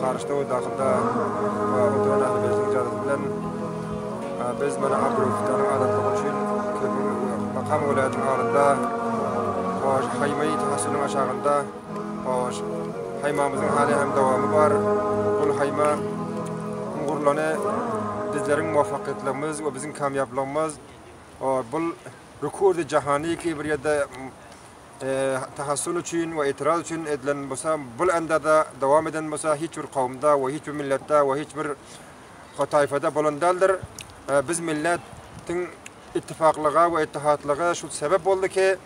Karyşda we Dahylda oturan Ählibeytiň jadysy bilen biz mana Abdulgefdanyň azatlygy üçin Makam welaýatynyň agzynda Haýmaýy taşynyň aşagynda haýmamyzyň häli hem dowamy bar. Ol haýma gurlany bizleriň muwaffakyýetlerimiz we biziň kamýaplygymyz bul rekordy jahany kiber ýerde tahassun üçin we itiraz üçin edilen bolsa, bul andada dowam eden bolsa hiç bir kowumda we hiç bir milletde we hiç bir o taýfada bolan däldir. Biz milletiň ittifaklyga we ittihatlyga şu sebep boldy ki,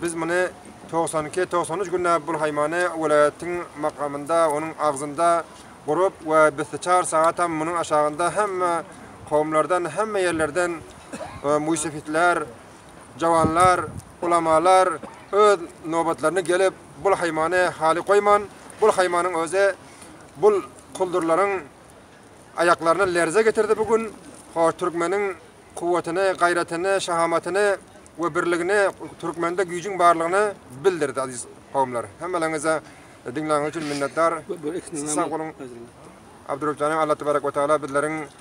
biz muny 92-93 günde bul haýmany welaýatyň makamynda, onuň agzynda gurup we bisti çar sagatam munuň aşagynda hemme kowumlardan, hemme ýerlerden e, müsefitler, Jawanlar, ulamalar öz nobatlaryna gelip, bul haýmany haly goýman, bul haýmanyň özi bul kuldurlaryň aýaklaryna lerze getirdi bu gün. Hoş, türkmeniň kuwwatyny, gaýratyny, şahamatyny we birligini, türkmende güýjüň barlygyny bildirdi, aziz kowumlar. Hemmeleriňize diňläniňiz üçin minnetdar. Sag boluň. Abdurrahman Alla tebarek we taala bizleriň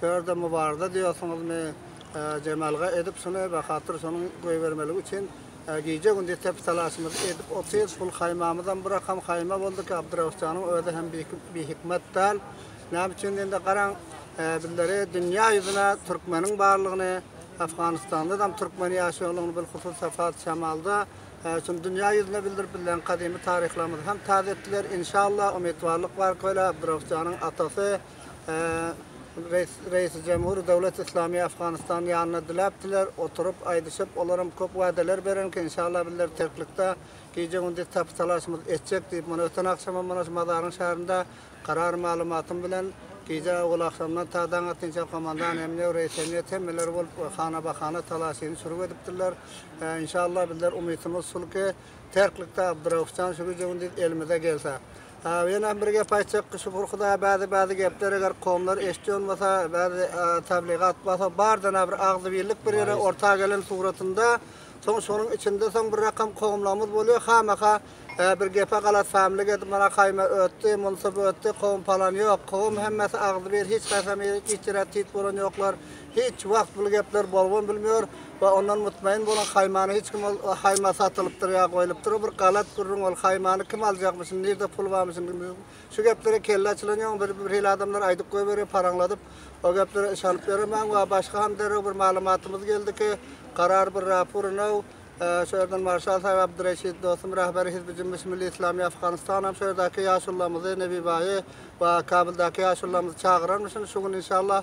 Şu ýerde mubarda diýýärsiňizmi? Jemalga edip şuny bahatyr şonuň goýbermeligi üçin gije-gündiz tepsalaşymyzy edip otyrys. Hul haýmamyzam bir akam haýma boldy ki, Abdyrauş janyň özi hem bihikmet däl. Näme üçin diýende, garaň, bizleri dünýä ýüzüne türkmeniň barlygyny, Afganystandadam türkmeniň ýaşaýanlygyny bilhusus Safat Şamalda şuny dünýä ýüzüne bildirip, bizleriň gadymy taryhlarymyzy hem täze etdiler. Inşallah, umytbarlyk bar ki, Abdyrauş janyň atasy, Reisi Jemhuri Döwlet Islami Afganistan ýanyna diläp diler oturyp aýdyşyp olaram köp wadaler berenken inşallah bizler terklikde gije gündiz tapy talaşymyz etjek diýip mana öten agşamam mana şu mazaryň şarynda karar maglumatym bilen gije owal agşamdan ta daň atynça komandan emniýe reis emniýet hemmeler bolup we hana bahana talaşyny şurup edipdirler inşallah bizler umytymyz şulki terklikde Abduraufjan şu gije gündiz elimize gelse Aw ýene bir gep aýtjak ki şükür hudaýa bäzi bäzi gepler eger komlar eşdi olmasa bäzi tabligat basa bardana bir agzybirlik bir ýere orta gelen suratynda soň şonuň içinde soň bir rakam komlamyz bolýa hamaha bir gepe galat samlik edip mana kaýma ötdi munsa ötdi kom palan ýok kom hemmesi agzybir hiç kaýsam ýeri tit ýere tit bolan ýoklar Hiç wagt bul gepler bolubam bilmiyor we ondan mutmaýyn boluň haýmany hiç kim ol haýma satylypdyr ýa goýlupdyr o bir galat gürrüň ol haýmany kim aljakmyşyn nirde pul barmyşyn şu geplere kelle açylan ýoň bir bir hili adamlar aýdyp goýberýär paraňladyp o geplere yşanyp ýöremäň we başga ham derrew bir maglumatymyz geldi ki karar bir rapur inow şu ýerden marşal saýyp abdyreşit dostum rahberi hizbi jümbiş milli islami afganystanam şu ýerdäki ýaşullamyzy nebibaýy we kabyldaky ýaşullamyzy çagyranmyşyn şu gün inşallah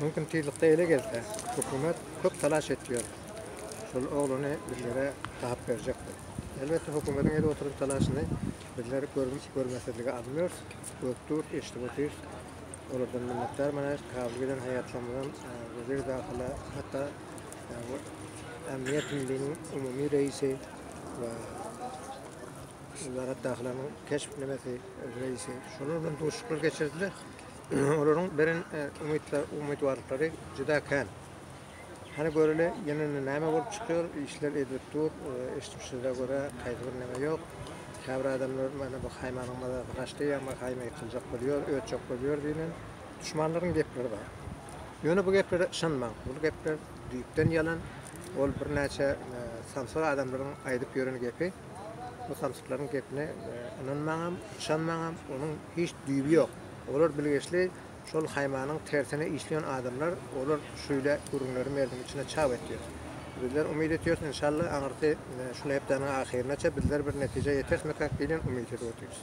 Mümkin tizlikde ele gelse, hökümet köp talaş etýär. Şol oglany bizlere gap berjekdir. Elbetde hökümetiň edip oturan talaşyny bizler görmezsizlige almýarys, görüp durus, eşidip otyrys. Olardan minnetdar manaýyk. Kabul giden haýatlarymyzam weziri dahyla hatda Ämniýet Milliniň umumy reisi we Wezarat dahylanyň keşp nemesi reisi şolar bilen duşuşyklar geçirdiler. olaryň beren umytbarlyklary juda kän. Hany göreli, ýene näme bolup çykýar? Işler edilip dur, eşidip şygra görä, haýsy bir näme ýok. Käbir adamlar mana bu haýmanyň mazasy gaçdy, ýa haýma ýykyljak bolýar, ötjek bolýar diýlen duşmanlaryň gepleri bar. Ýöne bu geplere ynanmaň, bu gepler düýpden ýalan, ol birnäçe samsyk adamlaryň aýdyp ýören gepi. Bu samsyklaryň gepine ynanmaňam, ynanmaňam, onuň hiç düýbi ýok. Olar bilgeşli şol haýmanyň tersine işleýän adamlar, olar şüýle gürrüňleri merdiň içine çap etýär. Bizler umyt etýäris, inşallah, aňyrky şu hepdäniň ahyrynaça bizler bir netijä ýeterismikak diýlen umyt edip otyrys.